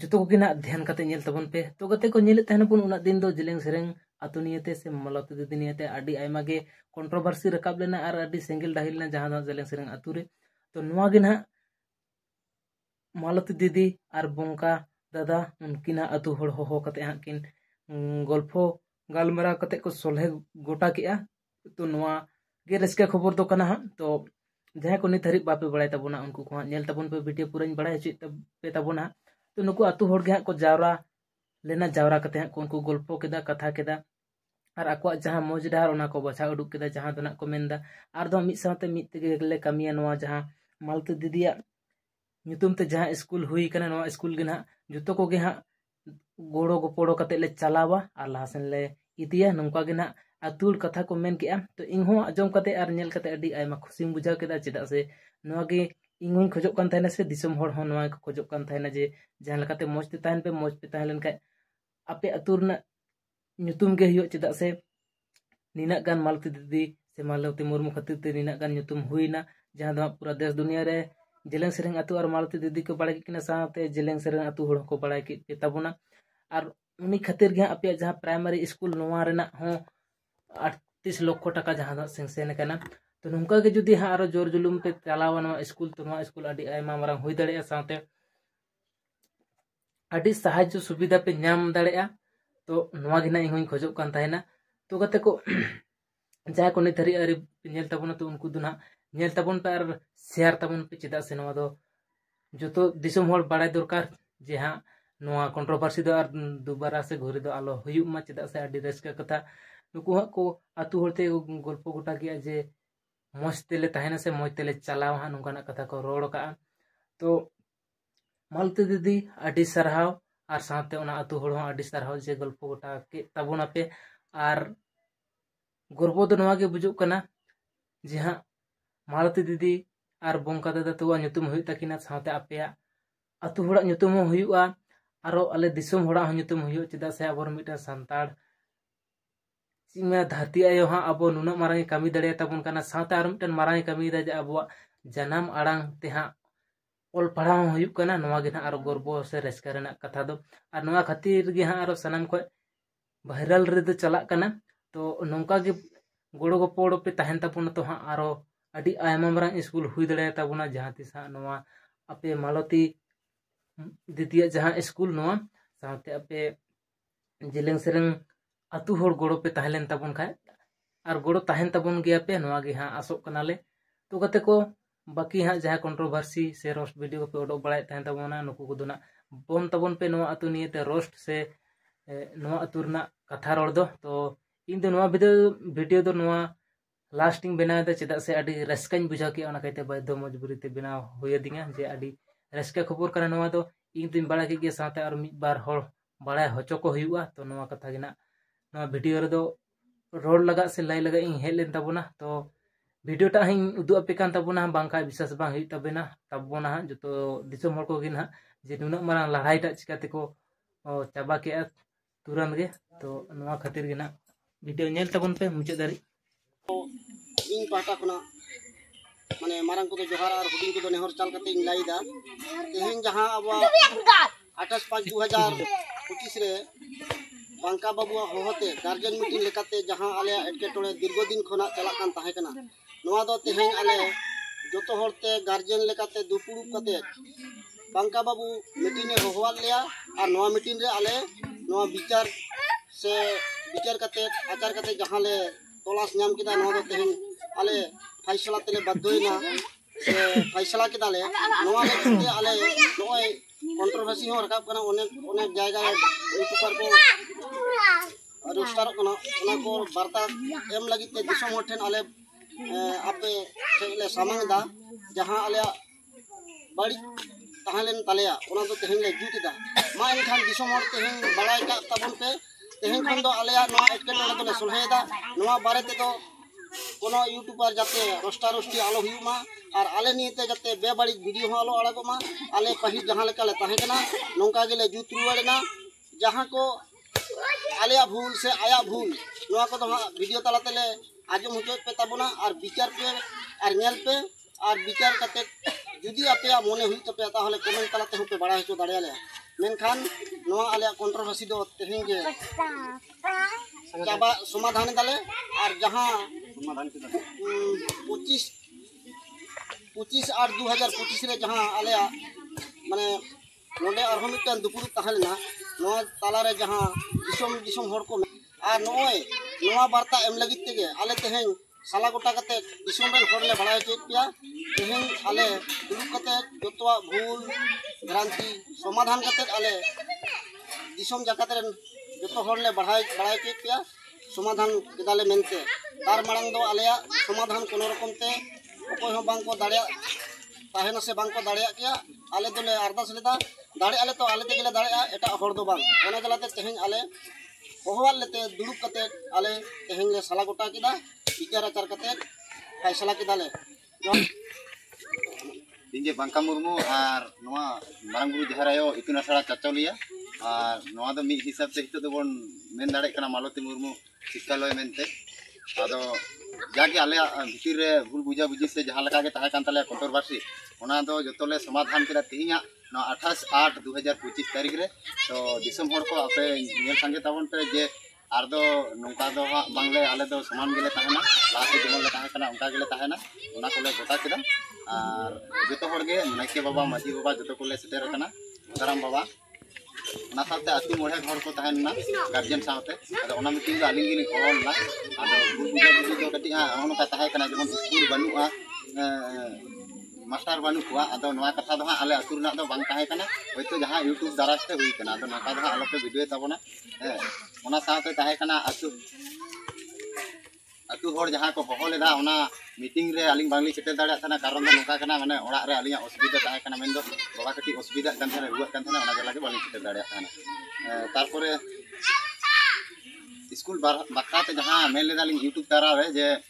ᱡᱚᱛᱚ ᱠᱚᱜᱮ ᱱᱟᱜ ᱫᱷᱮᱭᱟᱱ ᱠᱟᱛᱮ ᱧᱮᱞ ᱛᱟᱵᱚᱱ ᱯᱮ ᱛᱚ ᱜᱟᱛᱮ ᱠᱚ ᱧᱮᱞᱮᱫ ᱛᱟᱦᱮᱱᱟᱵᱚᱱ ᱩᱱᱟᱹᱜ ᱫᱤᱱ ᱫᱚ ᱡᱮᱞᱮᱝ ᱥᱮᱨᱮᱧ ᱟᱛᱳ ᱱᱤᱭᱮᱛᱮ ᱥᱮ ᱢᱟᱞᱚᱛ ᱫᱤᱫᱤ ᱱᱤᱭᱮᱛᱮ ᱟᱹᱰᱤ ᱟᱭᱢᱟ ᱜᱮ ᱠᱚᱱᱴᱨᱳᱵᱷᱟᱨᱥᱤ ᱨᱟᱠᱟᱵ ᱞᱮᱱᱟ ᱟᱨ ᱟᱹᱰᱤ ᱥᱮᱸᱜᱮᱞ ᱰᱟᱹᱦᱤ ᱞᱮᱱᱟ ᱡᱟᱦᱟᱸ ᱫᱚ ᱡᱮᱞᱮᱝ ᱥᱮᱨᱮᱧ ᱟᱛᱳ ᱨᱮ ᱛᱚ ᱱᱚᱣᱟ ᱜᱮ ᱱᱟᱜ ᱢᱟᱞᱚᱛ ᱫᱤᱫᱤ ᱟᱨ ᱵᱚᱝᱠᱟ ᱫᱟᱫᱟ ᱩᱱᱠᱤᱱᱟᱜ ᱟᱛᱳ ᱦᱚᱲ ᱦᱚᱦᱚ ᱠᱟᱛᱮ ᱦᱟᱸᱜ ᱠᱤᱱ ᱜᱚᱞᱯᱷᱚ ᱜᱟᱞᱢᱟᱨᱟᱣ ᱠᱟᱛᱮ ᱠᱚ ᱥᱚᱞᱦᱮ ᱜᱚᱴᱟ ᱠᱮᱜᱼᱟ ᱛᱚ ᱱᱚᱣᱟ ᱜᱮ ᱨᱟᱹᱥᱠᱟᱹ ᱠᱷᱚᱵᱚᱨ ᱫᱚ ᱠᱟᱱᱟ ᱦᱟᱸᱜ ᱛᱚ ᱡᱟᱦᱟᱸᱭ ᱠᱚ ᱱᱤᱛ ᱦᱟᱹᱨᱤᱡ ᱵᱟᱯᱮ ᱵᱟᱲᱟᱭ ᱛᱟᱵᱚᱱᱟ ᱩᱱᱠᱩ ᱠᱚ ᱦᱟᱸᱜ ᱧᱮᱞ ᱛᱟᱵᱚᱱ ᱯᱮ ᱵᱷᱤᱰᱤᱭᱳ ᱯᱩᱨᱟᱹᱧ ᱵᱟᱲᱟᱭ ᱦᱚᱪᱚᱭᱮᱫ ᱯᱮ ᱛᱟᱵᱚᱱᱟ ᱦᱟᱸᱜ ᱛᱚ ᱱᱩᱠᱩ ᱟᱛᱳ ᱦᱚᱲ ᱜᱮ ᱦᱟᱸᱜ ᱠᱚ ᱡᱟᱣᱨᱟ ᱞᱮᱱᱟ ᱡᱟᱣᱨᱟ ᱠᱟᱛᱮ ᱦᱟᱸᱜ ᱠᱚ ᱩᱱᱠᱩ ᱜᱚᱞᱯᱚ ᱠᱮᱫᱟ ᱠᱟᱛᱷᱟ ᱠᱮᱫᱟ ᱟᱨ ᱟᱠᱚᱣᱟᱜ ᱡᱟᱦᱟᱸ ᱢᱚᱡᱽ ᱰᱟᱦᱟᱨ ᱚᱱᱟ ᱠᱚ ᱵᱟᱪᱷᱟᱣ ᱩᱰᱩᱠ ᱠᱮᱫᱟ ᱡᱟᱦᱟᱸ ᱫᱚ ᱱᱟᱜ ᱠᱚ ᱢᱮᱱᱫᱟ ᱟᱨ ᱫᱚ ᱢᱤᱫ ᱥᱟᱶᱛᱮ ᱢᱤᱫ ᱛᱮᱜᱮ ᱞᱮ ᱠᱟᱹᱢᱤᱭᱟ ᱱᱚᱣᱟ ᱡᱟᱦᱟᱸ ᱢᱟᱞᱛᱤ ᱫᱤᱫᱤᱭᱟᱜ ᱧᱩᱛᱩᱢ ᱛᱮ ᱡᱟᱦᱟᱸ ᱥᱠᱩᱞ ᱦᱩᱭ ᱠᱟᱱᱟ ᱱᱚᱣᱟ ᱥᱠᱩᱞ ᱜᱮ ᱱᱟᱜ ᱡᱚᱛᱚ ᱠᱚᱜᱮ ᱦᱟᱸᱜ ᱜᱚᱲᱚ ᱜᱚᱯᱚᱲᱚ ᱠᱟᱛᱮᱫ ᱞᱮ ᱪᱟᱞᱟᱣᱟ ᱟᱨ ᱞᱟᱦᱟ ᱥᱮᱱ ᱞᱮ ᱤᱫᱤᱭᱟ ᱱᱚᱝᱠᱟ ᱜᱮ ᱱᱟᱦᱟᱜ ᱟᱛᱳ ᱦᱚᱲ ᱠᱟᱛᱷᱟ ᱠᱚ ᱢᱮᱱ ᱠᱮᱜᱼᱟ ᱛᱚ ᱤᱧ ᱦᱚᱸ ᱟᱸᱡᱚᱢ ᱠᱟᱛᱮᱫ ᱟᱨ ᱧᱮᱞ ᱠᱟᱛᱮᱫ ᱟᱹᱰᱤ ᱟᱭᱢᱟ ᱠᱷᱩᱥᱤᱧ ᱵᱩᱡᱷᱟᱹᱣ ᱠᱮᱫᱟ ᱪᱮᱫᱟᱜ ᱥᱮ ᱱᱚᱣᱟ ᱜᱮ ᱤᱧ ᱦᱚᱸᱧ ᱠᱷᱚᱡᱚᱜ ᱠᱟᱱ ᱛᱟᱦᱮᱱᱟ ᱥᱮ ᱫᱤᱥᱚᱢ ᱦᱚᱲ ᱦᱚᱸ ᱱᱚᱣᱟ ᱜᱮᱠᱚ ᱠᱷᱚᱡᱚᱜ ᱠᱟᱱ ᱛᱟᱦᱮᱱᱟ ᱡᱮ ᱡᱟᱦᱟᱸ ᱞᱮᱠᱟᱛᱮ ᱢᱚᱡᱽ ᱛᱮ ᱛᱟᱦᱮᱱ ᱯᱮ ᱢᱚᱡᱽ ᱯᱮ ᱛᱟᱦᱮᱸ ᱞᱮᱱᱠᱷᱟᱱ ᱟᱯᱮ ᱟᱛᱳ ᱨᱮᱱᱟᱜ ᱧᱩᱛᱩᱢ ᱜᱮ ᱦᱩᱭᱩᱜ ᱪᱮᱫᱟᱜ ᱥᱮ ᱱᱤᱱᱟᱹᱜ ᱜᱟᱱ ᱢᱟᱞᱚᱛᱤ ᱫᱤᱫᱤ ᱥᱮ ᱢᱟᱞᱚᱛᱤ ᱢᱩᱨᱢᱩ ᱠᱷᱟᱹᱛᱤᱨ ᱛᱮ ᱱᱤᱱᱟᱹᱜ ᱜᱟᱱ ᱧᱩᱛᱩᱢ ᱦᱩᱭᱱᱟ ᱡᱟᱦᱟᱸ ᱫᱚ ᱯᱩᱨᱟᱹ ᱫᱮᱥ ᱫᱩᱱᱤᱭᱟᱹ ᱨᱮ ᱡᱮᱞᱮᱧ ᱥᱮᱨᱮᱧ ᱟᱹᱛᱩ ᱟᱨ ᱢᱟᱞᱚᱛᱤ ᱫᱤᱫᱤ ᱠᱚ ᱵᱟᱲᱟᱭ ᱠᱮᱫ ᱠᱤᱱᱟ ᱥᱟᱶᱛᱮ ᱡᱮᱞᱮᱧ ᱥᱮᱨᱮᱧ ᱟᱹᱛᱩ ᱦᱚᱲ ᱦᱚᱸᱠᱚ ᱵᱟᱲᱟᱭ ᱠᱮᱫ ᱯᱮ ᱛᱟᱵᱚᱱᱟ ᱟᱨ ᱩᱱᱤ ᱠᱷᱟᱹᱛᱤᱨ ᱜᱮ ᱦᱟᱸᱜ ᱟᱯᱮᱭᱟᱜ ᱡᱟᱦᱟᱸ ᱯᱨᱟᱭᱢᱟᱨᱤ ᱥᱠᱩᱞ ᱱᱚᱣᱟ ᱨᱮᱱᱟᱜ ᱦᱚᱸ ᱟᱴᱛᱨᱤᱥ ᱞᱚᱠᱠᱷᱚ ᱴᱟᱠᱟ ᱡᱟᱦᱟᱸ ᱫᱚ ᱥᱮᱝᱥᱮᱱ ᱟᱠᱟᱱᱟ ᱛᱚ ᱱᱚᱝᱠᱟ ᱜᱮ ᱡᱩᱫᱤ ᱦᱟᱸᱜ ᱟᱨᱚ ᱡᱳᱨ ᱡᱩᱞᱩᱢ ᱯᱮ ᱪᱟᱞᱟᱣᱟ ᱱᱚᱣᱟ ᱥᱠᱩᱞ ᱛᱚ ᱱᱚᱣᱟ ᱥᱠᱩᱞ ᱟᱹᱰᱤ ᱟᱭᱢᱟ ᱢᱟᱨᱟᱝ ᱦᱩᱭ ᱫᱟᱲᱮᱭᱟᱜᱼᱟ ᱥᱟᱶᱛᱮ ᱟᱹᱰᱤ ᱥᱟᱦᱟᱡᱽᱡᱚ ᱥᱩᱵᱤᱫᱷᱟ ᱯᱮ ᱧᱟᱢ ᱫᱟᱲᱮᱭᱟᱜᱼᱟ ᱛᱚ ᱱᱚᱣᱟ ᱜᱮ ᱱᱟᱜ ᱤᱧ ᱦᱚᱧ ᱠᱷᱚᱡᱚᱜ ᱠᱟᱱ ᱛᱟᱦᱮᱱᱟ ᱛᱚ ᱜᱟᱛᱮ ᱠᱚ ᱡᱟᱦᱟᱸᱭ ᱠᱚ ᱱᱤᱛ ᱫᱷᱟᱹᱨᱤᱡ ᱟᱹᱣᱨᱤ ᱯᱮ ᱧᱮᱞ ᱛᱟᱵᱚᱱᱟ ᱛᱚ ᱩᱱᱠᱩ ᱫᱚ ᱱᱟᱜ ᱧᱮᱞ ᱛᱟᱵᱚᱱ ᱯᱮ ᱟᱨ ᱥᱮᱭᱟᱨ ᱛᱟᱵᱚᱱ ᱯᱮ ᱪᱮᱫᱟᱜ ᱥᱮ ᱱᱚᱣᱟ ᱫᱚ ᱡᱚᱛᱚ ᱫᱤᱥᱚᱢ ᱦᱚᱲ ᱵᱟᱲᱟᱭ ᱫᱚᱨᱠᱟᱨ ᱡᱮ ᱦᱟᱸᱜ ᱱᱚᱣᱟ ᱠᱚᱱᱴᱨᱳᱵᱷᱟᱨᱥᱤ ᱫᱚ ᱟᱨ ᱫᱩᱵᱟᱨᱟ ᱥᱮ ᱜᱷᱩᱨᱤ ᱫᱚ ᱟᱞᱚ ᱦᱩᱭᱩᱜ ᱢᱟ ᱪᱮᱫᱟᱜ ᱥᱮ ᱟᱹᱰᱤ ᱨᱟᱹᱥᱠᱟᱹ ᱠᱟᱛᱷᱟ ᱱᱩᱠᱩ ᱦᱟᱸᱜ ᱠᱚ ᱟᱛᱳ ᱦᱚᱲ ᱛᱮ ᱜᱚᱞᱯᱚ ᱜᱚᱴᱟ ᱠᱮᱜᱼᱟ ᱡᱮ ᱢᱚᱡᱽ ᱛᱮᱞᱮ ᱛᱟᱦᱮᱱᱟ ᱥᱮ ᱢᱚᱡᱽ ᱛᱮᱞᱮ ᱪᱟᱞᱟᱣᱟ ᱦᱟᱸᱜ ᱱᱚᱝᱠᱟᱱᱟᱜ ᱠᱟᱛᱷᱟ ᱠᱚ ᱨᱚᱲ ᱠᱟᱜᱼᱟ ᱛᱚ ᱢᱟᱞᱛᱤ ᱫᱤᱫᱤ ᱟᱹᱰᱤ ᱥᱟᱨᱦᱟᱣ ᱟᱨ ᱥᱟᱶᱛᱮ ᱚᱱᱟ ᱟᱹᱛᱩ ᱦᱚᱲ ᱦᱚᱸ ᱟᱹᱰᱤ ᱥᱟᱨᱦᱟᱣ ᱡᱮ ᱜᱚᱞᱯᱚ ᱜᱚᱴᱟ ᱠᱮᱫ ᱛᱟᱵᱚᱱᱟᱯᱮ ᱟᱨ ᱜᱚᱨᱵᱚ ᱫᱚ ᱱᱚᱣᱟ ᱜᱮ ᱵᱩᱡᱩᱜ ᱠᱟᱱᱟ ᱡᱮ ᱦᱟᱸᱜ ᱢᱟᱞᱛᱤ ᱫᱤᱫᱤ ᱟᱨ ᱵᱚᱝᱠᱟ ᱫᱟᱫᱟ ᱛᱟᱠᱚᱣᱟᱜ ᱧᱩᱛᱩᱢ ᱦᱩᱭᱩᱜ ᱛᱟᱹᱠᱤᱱᱟ ᱥᱟᱶᱛᱮ ᱟᱯᱮᱭᱟᱜ ᱟᱹᱛᱩ ᱦᱚᱲᱟᱜ ᱧᱩᱛᱩᱢ ᱦᱚᱸ ᱦᱩᱭᱩᱜᱼᱟ ᱟᱨᱚ ᱟᱞᱮ ᱫᱤᱥᱚᱢ ᱦᱚᱲᱟᱜ ᱦᱚᱸ ᱧᱩᱛᱩᱢ ᱦᱩᱭᱩᱜᱼᱟ ᱪᱮᱫᱟᱜ ᱥᱮ ᱟᱵᱚ ᱢᱤᱫᱴᱟᱝ ᱥᱟᱱᱛᱟᱲ ᱥᱤᱢᱟ ᱫᱷᱟᱹᱨᱛᱤ ᱟᱭᱳ ᱦᱟᱸᱜ ᱟᱵᱚ ᱱᱩᱱᱟᱹᱜ ᱢᱟᱨᱟᱝ ᱮ ᱠᱟᱹᱢᱤ ᱫᱟᱲᱮᱭᱟᱛᱟᱵᱚᱱ ᱠᱟᱱᱟ ᱥᱟᱶᱛᱮ ᱟᱨ ᱢᱤᱫᱴᱟᱝ ᱢᱟᱨᱟᱝ ᱮ ᱠᱟᱹᱢᱤᱭᱮᱫᱟ ᱡᱮ ᱟᱵᱚᱣᱟᱜ ᱡᱟᱱᱟᱢ ᱟᱲᱟᱝ ᱛᱮ ᱦᱟᱸᱜ ᱚᱞ ᱯᱟᱲᱦᱟᱣ ᱦᱚᱸ ᱦᱩᱭᱩᱜ ᱠᱟᱱᱟ ᱱᱚᱣᱟ ᱜᱮ ᱱᱟᱦᱟᱜ ᱟᱨᱚ ᱜᱚᱨᱵᱚ ᱥᱮ ᱨᱟᱹᱥᱠᱟᱹ ᱨᱮᱱᱟᱜ ᱠᱟᱛᱷᱟ ᱫᱚ ᱟᱨ ᱱᱚᱣᱟ ᱠᱷᱟᱹᱛᱤᱨ ᱜᱮ ᱦᱟᱸᱜ ᱟᱨᱚ ᱥᱟᱱᱟᱢ ᱠᱷᱚᱱ ᱵᱷᱟᱭᱨᱟᱞ ᱨᱮᱫᱚ ᱪᱟᱞᱟᱜ ᱠᱟᱱᱟ ᱛᱚ ᱱᱚᱝᱠᱟ ᱜᱮ ᱜᱚᱲᱚ ᱜᱚᱯᱚᱲᱚ ᱯᱮ ᱛᱟᱦᱮᱱ ᱛᱟᱵᱚᱱᱟ ᱛᱚ ᱦᱟᱸᱜ ᱟᱨᱚ ᱟᱹᱰᱤ ᱟᱭᱢᱟ ᱢᱟᱨᱟᱝ ᱥᱠᱩᱞ ᱦᱩᱭ ᱫᱟᱲᱮᱭᱟ ᱛᱟᱵᱚᱱᱟ ᱡᱟᱦᱟᱸ ᱛᱤᱥ ᱦᱟᱸᱜ ᱱᱚᱣᱟ ᱟᱯᱮ ᱢᱟᱞᱚᱛᱤ ᱫᱤᱫᱤᱭᱟᱜ ᱡᱟᱦᱟᱸ ᱥᱠᱩᱞ ᱱᱚᱣᱟ ᱥᱟᱶᱛᱮ ᱟᱯᱮ ᱡᱮᱞᱮᱝ ᱥᱮᱨᱮᱝ ᱟᱛᱳ ᱦᱚᱲ ᱜᱚᱲᱚ ᱯᱮ ᱛᱟᱦᱮᱸ ᱞᱮᱱ ᱛᱟᱵᱚᱱ ᱠᱷᱟᱡ ᱟᱨ ᱜᱚᱲᱚ ᱛᱟᱦᱮᱱ ᱛᱟᱵᱚᱱ ᱜᱮᱭᱟ ᱯᱮ ᱱᱚᱣᱟ ᱜᱮ ᱦᱟᱸᱜ ᱟᱥᱚᱜ ᱠᱟᱱᱟᱞᱮ ᱛᱚ ᱜᱟᱛᱮ ᱠᱚ ᱵᱟᱹᱠᱤ ᱦᱟᱸᱜ ᱡᱟᱦᱟᱸ ᱠᱚᱱᱴᱨᱳᱵᱷᱟᱨᱥᱤ ᱥᱮ ᱨᱳᱥᱴ ᱵᱷᱤᱰᱤᱭᱳ ᱠᱚᱯᱮ ᱚᱰᱚᱠ ᱵᱟᱲᱟᱭᱮᱫ ᱛᱟᱦᱮᱸ ᱛᱟᱵᱚᱱᱟ ᱱᱩᱠᱩ ᱠᱚᱫᱚ ᱱᱟᱜ ᱵᱚᱱ ᱛᱟᱵᱚᱱ ᱯᱮ ᱱᱚᱣᱟ ᱟᱛᱳ ᱱᱤᱭᱮᱛᱮ ᱨᱳᱥᱴ ᱥᱮ ᱱᱚᱣᱟ ᱟᱛᱳ ᱨᱮᱱᱟᱜ ᱠᱟᱛᱷᱟ ᱨᱚᱲ ᱫᱚ ᱛᱚ ᱤᱧ ᱫᱚ ᱱᱚᱣᱟ ᱵᱷᱤᱰᱤᱭᱳ ᱵᱷᱤᱰᱤᱭᱳ ᱫᱚ ᱱᱚᱣᱟ ᱞᱟᱥᱴᱤᱧ ᱵᱮᱱᱟᱣᱮᱫᱟ ᱪᱮᱫᱟᱜ ᱥᱮ ᱟᱹᱰᱤ ᱨᱟᱹᱥᱠᱟᱹᱧ ᱵᱩᱡᱷᱟᱹᱣ ᱠᱮᱫᱼᱟ ᱚᱱᱟ ᱠᱟᱭᱛᱮ ᱵᱟᱫᱽᱫᱷᱚ ᱢᱚᱡᱽᱵᱩᱨᱤ ᱛᱮ ᱵᱮᱱᱟᱣ ᱦᱩᱭ ᱟᱹᱫᱤᱧᱟ ᱡᱮ ᱟᱹᱰᱤ ᱨᱟᱹᱥᱠᱟᱹ ᱠᱷᱚᱵᱚᱨ ᱠᱟᱱᱟ ᱱᱚᱣᱟ ᱫᱚ ᱤᱧ ᱫᱚᱧ ᱵᱟᱲᱟᱭ ᱠᱮᱫ ᱜᱮᱭᱟ ᱥᱟᱶᱛᱮ ᱟᱨ ᱢᱤᱫ ᱵᱟᱨ ᱦᱚᱲ ᱵᱟᱲᱟᱭ ᱦᱚᱪᱚ ᱠᱚ ᱦᱩᱭᱩᱜᱼᱟ ᱛᱚ ᱱᱚᱣᱟ ᱠᱟᱛᱷᱟ ᱜᱮ ᱱᱟᱜ ᱱᱚᱣᱟ ᱵᱷᱤᱰᱤᱭᱳ ᱨᱮᱫᱚ ᱨᱚᱲ ᱞᱟᱜᱟᱜ ᱥᱮ ᱞᱟᱹᱭ ᱞᱟᱜᱟᱜ ᱤᱧ ᱦᱮᱡ ᱞᱮᱱ ᱛᱟᱵᱚᱱᱟ ᱛᱚ ᱵᱷᱤᱰᱤᱭᱳ ᱴᱟᱜ ᱦᱚᱧ ᱩᱫᱩᱜ ᱟᱯᱮ ᱠᱟᱱ ᱛᱟᱵᱚᱱᱟ ᱵᱟᱝᱠᱷᱟᱡ ᱵᱤᱥᱟᱥ ᱵᱟᱝ ᱦᱩᱭᱩᱜ ᱛᱟᱵᱮᱱᱟ ᱛᱟᱵᱚᱱᱟ ᱦᱟᱸᱜ ᱡᱚᱛᱚ ᱫᱤᱥᱚᱢ ᱦᱚᱲ ᱠᱚᱜᱮ ᱱᱟᱦᱟᱜ ᱡᱮ ᱱᱩᱱᱟᱹᱜ ᱢᱟᱨᱟᱝ ᱞᱟᱲᱟᱭ ᱴᱟᱜ ᱪᱤᱠᱟᱹ ᱛᱮᱠᱚ ᱪᱟᱵᱟ ᱠᱮᱜᱼᱟ ᱛᱩᱨᱟᱹᱱᱛ ᱜᱮ ᱛᱚ ᱱᱚᱣᱟ ᱠᱷᱟᱹᱛᱤᱨ ᱜᱮ ᱱᱟᱜ ᱵᱷᱤᱰᱤᱭᱳ ᱧᱮᱞ ᱛᱟᱵᱚᱱ ᱯᱮ ᱢᱩᱪᱟᱹᱫ ᱫᱷᱟᱹᱨᱤᱡ ᱤᱧ ᱯᱟᱦᱴᱟ ᱠᱷᱚᱱᱟᱜ ᱢᱟᱱᱮ ᱢᱟᱨᱟᱝ ᱠᱚᱫᱚ ᱡᱚᱦᱟᱨ ᱟᱨ ᱦᱩᱰᱤᱧ ᱠᱚᱫᱚ ᱱᱮᱦᱚᱨ ᱪᱟᱞ ᱠᱟᱛᱮ ᱤᱧ ᱞᱟᱹᱭᱫᱟ ᱛᱮᱦᱮᱧ ᱡᱟᱦᱟᱸ ᱟᱵᱚᱣᱟᱜ ᱟᱴᱷᱟᱥ ᱯᱟᱸᱪ ᱫᱩ ᱦᱟᱡᱟᱨ ᱯᱚᱸᱪᱤᱥ ᱨᱮ ᱵᱟᱝᱠᱟ ᱵᱟᱵᱩᱣᱟᱜ ᱦᱚᱦᱚᱛᱮ ᱜᱟᱨᱡᱮᱱ ᱢᱤᱴᱤᱝ ᱞᱮᱠᱟᱛᱮ ᱡᱟᱦᱟᱸ ᱟᱞᱮᱭᱟᱜ ᱮᱴᱠᱮᱴᱚᱬᱮ ᱫᱤᱨᱜᱷᱚ ᱫᱤᱱ ᱠᱷᱚᱱᱟᱜ ᱪᱟᱞᱟᱜ ᱠᱟᱱ ᱛᱟᱦᱮᱸ ᱠᱟᱱᱟ ᱱᱚᱣᱟ ᱫᱚ ᱛᱮᱦᱮᱧ ᱟᱞᱮ ᱡᱚᱛᱚ ᱦᱚᱲ ᱛᱮ ᱜᱟᱨᱡᱮᱱ ᱞᱮᱠᱟᱛᱮ ᱫᱩᱯᱲᱩᱵ ᱠᱟᱛᱮ ᱵᱟᱝᱠᱟ ᱵᱟᱹᱵᱩ ᱢᱤᱴᱤᱝ ᱮ ᱦᱚᱦᱚᱣᱟᱫ ᱞᱮᱭᱟ ᱟᱨ ᱱᱚᱣᱟ ᱢᱤᱴᱤᱝ ᱨᱮ ᱟᱞᱮ ᱱᱚᱣᱟ ᱵᱤᱪᱟᱨ ᱥᱮ ᱵᱤᱪᱟᱨ ᱠᱟᱛᱮ ᱟᱪᱟᱨ ᱠᱟᱛᱮ ᱡᱟᱦᱟᱸ ᱞᱮ ᱛᱚᱞᱟᱥ ᱧᱟᱢ ᱠᱮᱫᱟ ᱱᱚᱣᱟ ᱫᱚ ᱛᱮᱦᱮᱧ ᱟᱞᱮ ᱯᱷᱟᱭᱥᱟᱞᱟ ᱛᱮᱞᱮ ᱵᱟᱫᱽᱫᱷᱚᱭᱮᱱᱟ ᱥᱮ ᱯᱷᱟᱭᱥᱟᱞᱟ ᱠᱮᱫᱟᱞᱮ ᱱᱚᱣᱟ ᱞᱟᱹᱜᱤᱫ ᱛᱮ ᱟᱞᱮ ᱱᱚᱜᱼᱚᱭ ᱠᱚᱱᱴᱨᱳᱵᱷᱟᱨᱥᱤ ᱦᱚᱸ ᱨᱟᱠᱟᱵ ᱠᱟᱱᱟ ᱚᱱᱮᱠ ᱚᱱᱮᱠ ᱡᱟᱭᱜᱟ ᱱᱤᱭᱩᱡᱽᱯᱮᱯᱟᱨ ᱠᱚ ᱨᱮᱡᱤᱥᱴᱟᱨᱚᱜ ᱠᱟᱱᱟ ᱚᱱᱟ ᱠᱚ ᱵᱟᱨᱛᱟ ᱮᱢ ᱞᱟᱹᱜᱤᱫ ᱛᱮ ᱫᱤᱥᱚᱢ ᱦᱚᱲ ᱴᱷᱮᱱ ᱟᱞᱮ ᱟᱯᱮ ᱴᱷᱮᱱ ᱞᱮ ᱥᱟᱢᱟᱝ ᱮᱫᱟ ᱡᱟᱦᱟᱸ ᱟᱞᱮᱭᱟᱜ ᱵᱟᱹᱲᱤᱡ ᱛᱟᱦᱮᱸ ᱞᱮᱱ ᱛᱟᱞᱮᱭᱟ ᱚᱱᱟ ᱫᱚ ᱛᱮᱦᱮᱧ ᱞᱮ ᱡᱩᱛ ᱮᱫᱟ ᱢᱟ ᱮᱱᱠᱷᱟᱱ ᱫᱤᱥᱚᱢ ᱦᱚᱲ ᱛᱮᱦᱮᱧ ᱵᱟᱲᱟᱭ ᱠᱟᱜ ᱛᱟᱵᱚᱱ ᱯᱮ ᱛᱮᱦᱮᱧ ᱠᱷᱚᱱ ᱫᱚ ᱟᱞᱮᱭᱟᱜ ᱱᱚᱣᱟ ᱮᱴᱠᱮᱴᱚᱬᱮ ᱫᱚᱞᱮ ᱥᱚᱞᱦᱮᱭᱮᱫᱟ ᱱᱚᱣᱟ ᱵᱟᱨᱮ ᱛᱮᱫᱚ ᱠᱳᱱᱳ ᱤᱭᱩᱴᱩᱵᱟᱨ ᱡᱟᱛᱮ ᱨᱳᱥᱴᱟ ᱨᱳᱥᱴᱤ ᱟᱞᱚ ᱦᱩᱭᱩᱜ ᱢᱟ ᱟᱨ ᱟᱞᱮ ᱱᱤᱭᱮᱛᱮ ᱡᱟᱛᱮ ᱵᱮᱵᱟᱹᱲᱤᱡ ᱵᱷᱤᱰᱤᱭᱳ ᱦᱚᱸ ᱟᱞᱚ ᱟᱲᱟᱜᱚᱜ ᱢᱟ ᱟᱞᱮ ᱯᱟᱹᱦᱤᱞ ᱡᱟᱦᱟᱸ ᱞᱮᱠᱟ ᱞᱮ ᱛᱟᱦᱮᱸ ᱠᱟᱱᱟ ᱱᱚᱝᱠᱟ ᱜᱮᱞᱮ ᱡᱩᱛ ᱨᱩᱣᱟᱹᱲ ᱮᱱᱟ ᱡᱟᱦᱟᱸ ᱠᱚ ᱟᱞᱮᱭᱟᱜ ᱵᱷᱩᱞ ᱥᱮ ᱟᱭᱟᱜ ᱵᱷᱩᱞ ᱱᱚᱣᱟ ᱠᱚᱫᱚ ᱦᱟᱸᱜ ᱵᱷᱤᱰᱤᱭᱳ ᱛᱟᱞᱟ ᱛᱮᱞᱮ ᱟᱸᱡᱚᱢ ᱦᱚᱪᱚᱭᱮᱫ ᱯᱮ ᱛᱟᱵᱚᱱᱟ ᱟᱨ ᱵᱤᱪᱟᱨ ᱯᱮ ᱟᱨ ᱧᱮᱞ ᱯᱮ ᱟᱨ ᱵᱤᱪᱟᱨ ᱠᱟᱛᱮ ᱡᱩᱫᱤ ᱟᱯᱮᱭᱟᱜ ᱢᱚᱱᱮ ᱦᱩᱭᱩᱜ ᱛᱟᱯᱮᱭᱟ ᱛᱟᱦᱚᱞᱮ ᱠᱚᱢᱮᱱᱴ ᱛᱟᱞᱟ ᱛᱮᱦᱚᱸ ᱯᱮ ᱵᱟᱲᱟᱭ ᱦᱚᱪᱚ ᱫᱟᱲᱮᱭᱟᱞᱮᱭᱟ ᱢᱮᱱᱠᱷᱟᱱ ᱱᱚᱣᱟ ᱟᱞᱮᱭᱟᱜ ᱠᱚᱱᱴᱨᱳᱵᱷᱟᱨᱥᱤ ᱫᱚ ᱛᱮᱦᱮᱧ ᱜᱮ ᱪᱟᱵᱟ ᱥᱚᱢᱟᱫᱷᱟᱱ ᱮᱫᱟᱞᱮ ᱟᱨ ᱡᱟᱦᱟᱸ ᱯᱚᱸᱪᱤᱥ ᱯᱚᱸᱪᱤᱥ ᱟᱴ ᱫᱩ ᱦᱟᱡᱟᱨ ᱯᱚᱸᱪᱤᱥ ᱨᱮ ᱡᱟᱦᱟᱸ ᱟᱞᱮᱭᱟᱜ ᱢᱟᱱᱮ ᱱᱚᱰᱮ ᱟᱨᱦᱚᱸ ᱢᱤᱫᱴᱟᱝ ᱫᱩᱯᱲᱩᱵ ᱛᱟᱦᱮᱸ ᱞᱮᱱᱟ ᱱᱚᱣᱟ ᱛᱟᱞᱟᱨᱮ ᱡᱟᱦᱟᱸ ᱫᱤᱥᱚᱢ ᱫᱤᱥᱚᱢ ᱦᱚᱲ ᱠᱚ ᱟᱨ ᱱᱚᱜᱼᱚᱭ ᱱᱚᱣᱟ ᱵᱟᱨᱛᱟ ᱮᱢ ᱞᱟᱹᱜᱤᱫ ᱛᱮᱜᱮ ᱟᱞᱮ ᱛᱮᱦᱮᱧ ᱥᱟᱞᱟ ᱜᱚᱴᱟ ᱠᱟᱛᱮ ᱫᱤᱥᱚᱢ ᱨᱮᱱ ᱦᱚᱲ ᱞᱮ ᱵᱟᱲᱟᱭ ᱦᱚᱪᱚᱭᱮᱫ ᱯᱮᱭᱟ ᱛᱮᱦᱮᱧ ᱟᱞᱮ ᱫᱩᱲᱩᱵ ᱠᱟᱛᱮ ᱡᱚᱛᱚᱣᱟᱜ ᱵᱷᱩᱞ ᱵᱷᱨᱟᱱᱛᱤ ᱥᱚᱢᱟᱫᱷᱟᱱ ᱠᱟᱛᱮ ᱟᱞᱮ ᱫᱤᱥᱚᱢ ᱡᱟᱠᱟᱛ ᱨᱮᱱ ᱡᱚᱛᱚ ᱦᱚᱲ ᱞᱮ ᱵᱟᱲᱟᱭ ᱵᱟᱲᱟᱭ ᱦᱚᱪᱚᱭᱮᱫ ᱯᱮᱭᱟ ᱥᱚᱢᱟᱫᱷᱟᱱ ᱠᱮᱫᱟ ᱞᱮ ᱢᱮᱱᱛᱮ ᱛᱟᱨ ᱢᱟᱲᱟᱝ ᱫᱚ ᱟᱞᱮᱭᱟᱜ ᱥᱚᱢᱟᱫᱷᱟᱱ ᱠᱚᱱᱚ ᱨᱚᱠᱚᱢ ᱛᱮ ᱚᱠᱚᱭ ᱦᱚᱸ ᱵᱟᱝ ᱠᱚ ᱫᱟᱲᱮᱭᱟᱜ ᱛᱟᱦᱮᱱᱟ ᱥᱮ ᱵᱟᱝ ᱠᱚ ᱫᱟᱲᱮᱭᱟᱜ ᱠᱮᱭᱟ ᱟᱞᱮ ᱫᱚᱞᱮ ᱟᱨᱫᱟᱥ ᱞᱮᱫᱟ ᱫᱟᱲᱮ ᱟᱞᱮ ᱛᱚ ᱟᱞᱮ ᱛᱮᱜᱮ ᱞᱮ ᱫᱟᱲᱮᱭᱟᱜᱼᱟ ᱮᱴᱟᱜ ᱦᱚᱲ ᱫᱚ ᱵᱟᱝ ᱚᱱᱟ ᱡᱟᱞᱟᱛᱮ ᱛᱮᱦᱮᱧ ᱟᱞᱮ ᱦᱚᱦᱚᱣᱟᱫ ᱞᱮᱛᱮ ᱫᱩᱲᱩᱵ ᱠᱟᱛᱮ ᱟᱞᱮ ᱛᱮᱦᱮᱧ ᱞᱮ ᱥᱟᱞᱟ ᱜᱚᱴᱟ ᱠᱮᱫᱟ ᱵᱤᱪᱟᱨ ᱟᱪᱟᱨ ᱠᱟᱛᱮ ᱯᱷᱟᱭᱥᱟᱞᱟ ᱠᱮᱫᱟ ᱞᱮ ᱤᱧ ᱜᱮ ᱵᱟᱝᱠᱟ ᱢᱩᱨᱢᱩ ᱟᱨ ᱱᱚᱣᱟ ᱢᱟᱨᱟᱝ ᱵᱩᱨᱩ ᱡᱟᱦᱮᱨ ᱟᱭᱳ ᱤᱛᱩᱱ ᱟᱥᱲᱟ ᱪᱟᱪᱚᱞᱤᱭᱟᱹ ᱟᱨ ᱱᱚᱣᱟ ᱫᱚ ᱢᱤᱫ ᱦᱤᱥᱟᱹᱵ ᱛᱮ ᱱᱤᱛᱚᱜ ᱫᱚᱵᱚᱱ ᱢᱮᱱ ᱫᱟᱲᱮᱭᱟᱜ ᱠᱟᱱᱟ ᱢᱟᱞᱚᱛᱤ ᱢᱩᱨᱢᱩ ᱪᱤᱠᱤᱛᱥᱟᱞᱚᱭ ᱢᱮᱱᱛᱮ ᱟᱫᱚ ᱡᱟᱜᱮ ᱟᱞᱮᱭᱟᱜ ᱵᱷᱤᱛᱤᱨ ᱨᱮ ᱵᱷᱩᱞ ᱵᱩᱡᱷᱟᱹ ᱵᱩᱡᱷᱤ ᱥᱮ ᱡᱟᱦᱟᱸ ᱞᱮᱠᱟ ᱜᱮ ᱛᱟᱦᱮᱸ ᱠᱟᱱ ᱛᱟᱞᱮᱭᱟ ᱠᱚᱱᱴᱨᱳᱵᱷᱟᱨᱥᱤ ᱚᱱᱟ ᱫᱚ ᱡᱚᱛᱚ ᱞᱮ ᱥᱚᱢᱟᱫᱷᱟᱱ ᱠᱮᱫᱟ ᱛᱮᱦᱮᱧᱟᱜ ᱱᱚᱣᱟ ᱟᱴᱷᱟᱥ ᱟᱴ ᱫᱩ ᱦᱟᱡᱟᱨ ᱯᱚᱸᱪᱤᱥ ᱛᱟᱹᱨᱤᱠᱷ ᱨᱮ ᱛᱚ ᱫᱤᱥᱚᱢ ᱦᱚᱲ ᱠᱚ ᱟᱯᱮ ᱧᱮᱞ ᱥᱟᱸᱜᱮ ᱛᱟᱵᱚᱱ ᱯᱮ ᱡᱮ ᱟᱨ ᱫᱚ ᱱᱚᱝᱠᱟ ᱫᱚ ᱦᱟᱸᱜ ᱵᱟᱝᱞᱮ ᱟᱞᱮ ᱫᱚ ᱥᱚᱢᱟᱱ ᱜᱮᱞᱮ ᱛᱟᱦᱮᱱᱟ ᱞᱟᱦᱟᱛᱮ ᱡᱮᱢᱚᱱ ᱞᱮ ᱛᱟᱦᱮᱸ ᱠᱟᱱᱟ ᱚᱱᱠᱟ ᱜᱮᱞᱮ ᱛᱟᱦᱮᱱᱟ ᱚᱱᱟ ᱠᱚᱞᱮ ᱜᱚᱴᱟ ᱠᱮᱫᱟ ᱟᱨ ᱡᱚᱛᱚ ᱦᱚᱲ ᱜᱮ ᱱᱟᱭᱠᱮ ᱵᱟᱵᱟ ᱢᱟᱺᱡᱷᱤ ᱵᱟᱵᱟ ᱡᱚᱛᱚ ᱠᱚᱞᱮ ᱥᱮᱴᱮᱨ ᱟᱠᱟᱱᱟ ᱢᱟᱫᱟᱨᱟᱢ ᱵᱟᱵᱟ ᱚᱱᱟ ᱥᱟᱶᱛᱮ ᱟᱹᱛᱩ ᱢᱚᱬᱮ ᱦᱚᱲ ᱠᱚ ᱛᱟᱦᱮᱸ ᱞᱮᱱᱟ ᱜᱟᱨᱡᱮᱱ ᱥᱟᱶᱛᱮ ᱟᱫᱚ ᱚᱱᱟ ᱢᱤᱴᱤᱝ ᱫᱚ ᱟᱹᱞᱤᱧ ᱜᱮᱞᱤᱧ ᱦᱚᱦᱚ ᱞᱮᱱᱟ ᱟᱫᱚ ᱜᱩᱨᱩ ᱯᱩᱡᱟᱹ ᱵᱤᱥᱚᱭ ᱫᱚ ᱠᱟᱹᱴᱤᱡ ᱦᱟᱸᱜ ᱱᱚᱜᱼᱚ ᱱᱚᱝᱠᱟ ᱛᱟᱦᱮᱸ ᱠᱟᱱᱟ ᱡᱮᱢᱚᱱ ᱥᱠᱩᱞ ᱵᱟᱹᱱᱩᱜᱼᱟ ᱢᱟᱥᱴᱟᱨ ᱵᱟᱹᱱᱩᱜ ᱠᱚᱣᱟ ᱟᱫᱚ ᱱᱚᱣᱟ ᱠᱟᱛᱷᱟ ᱫᱚ ᱦᱟᱸᱜ ᱟᱞᱮ ᱟᱹᱛᱩ ᱨᱮᱱᱟᱜ ᱫᱚ ᱵᱟᱝ ᱛᱟᱦᱮᱸ ᱠᱟᱱᱟ ᱦᱚᱭᱛᱳ ᱡᱟᱦᱟᱸ ᱤᱭᱩᱴᱩᱵᱽ ᱫᱟᱨᱟᱭ ᱛᱮ ᱦᱩᱭ ᱠᱟᱱᱟ ᱟᱫᱚ ᱱᱚᱝᱠᱟ ᱫᱚ ᱦᱟᱸᱜ ᱟᱞᱚᱯᱮ ᱵᱷᱤᱰᱤᱭᱳᱭ ᱛᱟᱵᱚᱱᱟ ᱦᱮᱸ ᱚᱱᱟ ᱥᱟᱶᱛᱮ ᱛᱟᱦᱮᱸ ᱠᱟᱱᱟ ᱟᱹᱛᱩ ᱟᱹᱛᱩ ᱦᱚᱲ ᱡᱟᱦᱟᱸ ᱠᱚ ᱦᱚᱦᱚ ᱞᱮᱫᱟ ᱚᱱᱟ ᱢᱤᱴᱤᱝ ᱨᱮ ᱟᱹᱞᱤᱧ ᱵᱟᱝᱞᱤᱧ ᱥᱮᱴᱮᱨ ᱫᱟᱲᱮᱭᱟᱜ ᱛᱟᱦᱮᱱᱟ ᱠᱟᱨᱚᱱ ᱫᱚ ᱱᱚᱝᱠᱟ ᱠᱟᱱᱟ ᱢᱟᱱᱮ ᱚᱲᱟᱜ ᱨᱮ ᱟᱹᱞᱤᱧᱟᱜ ᱚᱥᱩᱵᱤᱫᱟ ᱛᱟᱦᱮᱸ ᱠᱟᱱᱟ ᱢᱮᱱᱫᱚ ᱵᱟᱵᱟ ᱠᱟᱹᱴᱤᱡ ᱚᱥᱩᱵᱤᱫᱟᱜ ᱠᱟᱱ ᱛᱟᱦᱮᱱᱟ ᱨᱩᱣᱟᱹᱜ ᱠᱟᱱ ᱛᱟᱦᱮᱱᱟ ᱚᱱᱟ ᱡᱟᱞᱟ ᱜᱮ ᱵᱟᱹᱞᱤᱧ ᱥᱮᱴᱮᱨ ᱫᱟᱲᱮᱭᱟᱜ ᱛᱟᱦᱮᱱᱟ ᱛᱟᱨᱯᱚᱨᱮ ᱥᱠᱩᱞ ᱵᱟᱠᱷᱨᱟᱛᱮ ᱡᱟᱦᱟᱸ ᱢᱮᱱ ᱞᱮᱫᱟᱞᱤᱧ ᱤᱭᱩᱴᱩᱵᱽ ᱫᱟᱨᱟ ᱨᱮ ᱡᱮ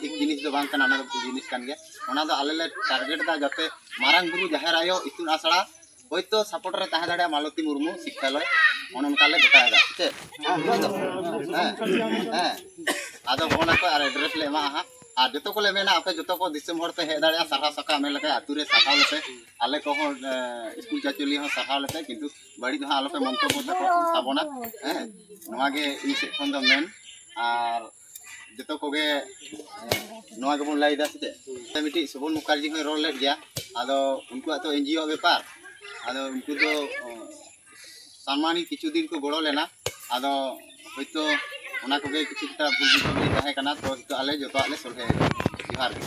ᱴᱷᱤᱠ ᱡᱤᱱᱤᱥ ᱫᱚ ᱵᱟᱝ ᱠᱟᱱᱟ ᱚᱱᱟ ᱫᱚ ᱵᱷᱩᱞ ᱡᱤᱱᱤᱥ ᱠᱟᱱ ᱜᱮᱭᱟ ᱚᱱᱟ ᱫᱚ ᱟᱞᱮ ᱞᱮ ᱴᱟᱨᱜᱮᱴ ᱫᱟ ᱡᱟᱛᱮ ᱢᱟᱨᱟᱝ ᱵᱩᱨᱩ ᱡᱟᱦᱮᱨ ᱟᱭᱳ ᱤᱛᱩᱱ ᱟᱥᱲᱟ ᱦᱳᱭᱛᱳ ᱥᱟᱯᱳᱨᱴ ᱨᱮ ᱛᱟᱦᱮᱸ ᱫᱟᱲᱮᱭᱟᱜᱼᱟ ᱢᱟᱞᱚᱛᱤ ᱢᱩᱨᱢᱩ ᱥᱤᱠᱠᱷᱟᱞᱚᱭ ᱚᱱᱮ ᱚᱱᱠᱟ ᱞᱮ ᱜᱚᱴᱟᱭᱮᱫᱟ ᱪᱮᱫ ᱦᱮᱸ ᱦᱮᱸ ᱟᱫᱚ ᱯᱷᱳᱱ ᱟᱠᱚ ᱟᱨ ᱮᱰᱨᱮᱥ ᱞᱮ ᱮᱢᱟᱜᱼᱟ ᱦᱟᱸᱜ ᱟᱨ ᱡᱚᱛᱚ ᱠᱚᱞᱮ ᱢᱮᱱᱟ ᱟᱯᱮ ᱡᱚᱛᱚ ᱠᱚ ᱫᱤᱥᱚᱢ ᱦᱚᱲ ᱯᱮ ᱦᱮᱡ ᱫᱟᱲᱮᱭᱟᱜᱼᱟ ᱥᱟᱨᱦᱟᱣ ᱥᱟᱠᱟᱣ ᱢᱮᱱ ᱞᱮᱠᱷᱟᱱ ᱟᱹᱛᱩ ᱨᱮ ᱥᱟᱨᱦᱟᱣ ᱞᱮᱯᱮ ᱟᱞᱮ ᱠᱚᱦᱚᱸ ᱥᱠᱩᱞ ᱪᱟᱪᱚᱞᱤ ᱦᱚᱸ ᱥᱟᱨᱦᱟᱣ ᱞᱮᱯᱮ ᱠᱤᱱᱛᱩ ᱵᱟᱹᱲᱤᱡ ᱫᱚ ᱦᱟᱸᱜ ᱟᱞᱚᱯᱮ ᱢᱚᱱᱛᱚᱵᱽᱵᱚ ᱛᱟᱵᱚᱱᱟ ᱦᱮᱸ ᱱᱚᱣᱟ ᱜᱮ ᱤᱧ ᱥᱮᱫ ᱠᱷᱚᱱ ᱫᱚ ᱢᱮᱱ ᱟᱨ ᱡᱚᱛᱚ ᱠᱚᱜᱮ ᱱᱚᱣᱟ ᱜᱮᱵᱚᱱ ᱞᱟᱹᱭᱫᱟ ᱥᱮ ᱪᱮᱫ ᱢᱤᱫᱴᱤᱡ ᱥᱚᱵᱚᱱ ᱢᱩᱠᱷᱟᱨᱡᱤ ᱦᱚᱸᱭ ᱨᱚᱲ ᱞᱮᱫ ᱜᱮᱭᱟ ᱟᱫᱚ ᱩᱱᱠᱩᱣᱟᱜ ᱫᱚ ᱮᱱᱡᱤᱭᱳ ᱵᱮᱯᱟᱨ ᱟᱫᱚ ᱩᱱᱠᱩ ᱫᱚ ᱥᱟᱢᱟᱱᱤ ᱠᱤᱪᱷᱩ ᱫᱤᱱ ᱠᱚ ᱜᱚᱲᱚ ᱞᱮᱱᱟ ᱟᱫᱚ ᱦᱚᱭᱛᱳ ᱚᱱᱟ ᱠᱚᱜᱮ ᱠᱤᱪᱷᱩ ᱮᱠᱴᱟ ᱵᱷᱩᱞ ᱵᱩᱡᱷᱟᱹᱣ ᱛᱟᱦᱮᱸ ᱠᱟᱱᱟ ᱛᱚ ᱱᱤᱛᱚᱜ ᱟᱞᱮ ᱡᱚᱛᱚᱣᱟᱜ ᱞᱮ ᱥᱚᱞᱦᱮ ᱡᱚᱦᱟᱨ ᱜᱮ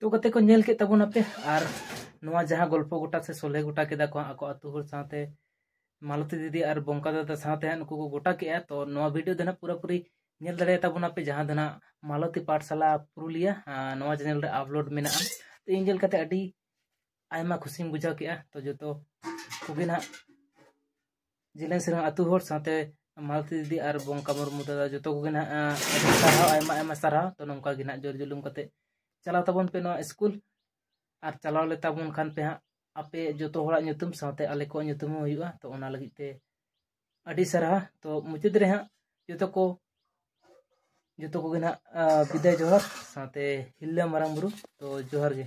ᱛᱚ ᱠᱟᱛᱮ ᱠᱚ ᱧᱮᱞ ᱠᱮᱫ ᱛᱟᱵᱚᱱ ᱟᱯᱮ ᱟᱨ ᱱᱚᱣᱟ ᱡᱟᱦᱟᱸ ᱜᱚᱞᱯᱚ ᱜᱚᱴᱟ ᱥᱮ ᱥᱚᱞᱮ ᱜᱚᱴᱟ ᱠᱮᱫᱟ ᱠᱚ ᱟᱠᱚ ᱟᱛᱳ ᱦᱚᱲ ᱥᱟᱶᱛᱮ ᱢᱟᱞᱚᱛᱤ ᱫᱤᱫᱤ ᱟᱨ ᱵᱚᱝᱠᱟ ᱫᱟᱫᱟ ᱥᱟᱶᱛᱮ ᱦᱟᱸᱜ ᱱᱩᱠᱩ ᱠᱚ ᱜᱚᱴᱟ ᱠᱮᱜᱼᱟ ᱛᱚ ᱱᱚᱣᱟ ᱵᱷᱤᱰᱤᱭᱳ ᱫᱚ ᱦᱟᱸᱜ ᱯᱩᱨᱟᱹᱯᱩᱨᱤ ᱧᱮᱞ ᱫᱟᱲᱮᱭᱟᱛᱟ ᱵᱚᱱᱟ ᱯᱮ ᱡᱟᱦᱟᱸ ᱫᱚ ᱱᱟᱜ ᱢᱟᱞᱚᱛᱤ ᱯᱟᱴᱥᱟᱞᱟ ᱯᱩᱨᱩᱞᱤᱭᱟ ᱱᱚᱣᱟ ᱪᱮᱱᱮᱞ ᱨᱮ ᱟᱯᱞᱳᱰ ᱢᱮᱱᱟᱜᱼᱟ ᱛᱚ ᱤᱧ ᱧᱮᱞ ᱠᱟᱛᱮ ᱟᱹᱰᱤ ᱟᱭᱢᱟ ᱠᱷᱩᱥᱤᱧ ᱵᱩᱡᱷᱟᱹᱣ ᱠᱮᱜᱼᱟ ᱛᱚ ᱡᱚᱛᱚ ᱠᱚᱜᱮ ᱱᱟᱜ ᱡᱤᱞᱮᱱ ᱥᱮᱨᱢᱟ ᱟᱹᱛᱩ ᱦᱚᱲ ᱥᱟᱶᱛᱮ ᱢᱟᱞᱚᱛᱤ ᱫᱤᱫᱤ ᱟᱨ ᱵᱚᱝᱠᱟ ᱢᱩᱨᱢᱩ ᱫᱟᱫᱟ ᱡᱚᱛᱚ ᱠᱚᱜᱮ ᱱᱟᱜ ᱥᱟᱨᱦᱟᱣ ᱟᱭᱢᱟ ᱟᱭᱢᱟ ᱥᱟᱨᱦᱟᱣ ᱛᱚ ᱱᱚᱝᱠᱟ ᱜᱮ ᱱᱟᱜ ᱡᱳᱨ ᱡᱩᱞᱩᱢ ᱠᱟᱛᱮ ᱪᱟᱞᱟᱣ ᱛᱟᱵᱚᱱ ᱯᱮ ᱱᱚᱣᱟ ᱥᱠᱩᱞ ᱟᱨ ᱪᱟᱞᱟᱣ ᱞᱮ ᱛᱟᱵᱚᱱ ᱠᱷᱟᱱ ᱯᱮ ᱦᱟᱸᱜ ᱟᱯᱮ ᱡᱚᱛᱚ ᱦᱚᱲᱟᱜ ᱧᱩᱛᱩᱢ ᱥᱟᱶᱛᱮ ᱟᱞᱮ ᱠᱚᱣᱟᱜ ᱧᱩᱛᱩᱢ ᱦᱚᱸ ᱦᱩᱭᱩᱜᱼᱟ ᱛᱚ ᱚᱱᱟ ᱞᱟᱹᱜᱤᱫ ᱛᱮ ᱟᱹᱰᱤ ᱥᱟᱨᱦᱟ ᱛᱚ ᱢᱩᱪᱟᱹᱫ ᱨᱮ ᱦᱟᱸᱜ ᱡᱚᱛᱚ ᱠᱚ ᱡᱚᱛᱚ ᱠᱚᱜᱮ ᱱᱟᱜ ᱵᱤᱫᱟᱭ ᱡᱚᱦᱟᱨ ᱥᱟᱶᱛᱮ ᱦᱤᱞᱞᱟᱹ ᱢᱟᱨᱟᱝ ᱵᱩᱨᱩ ᱛᱚ ᱡᱚᱦᱟᱨ ᱜᱮ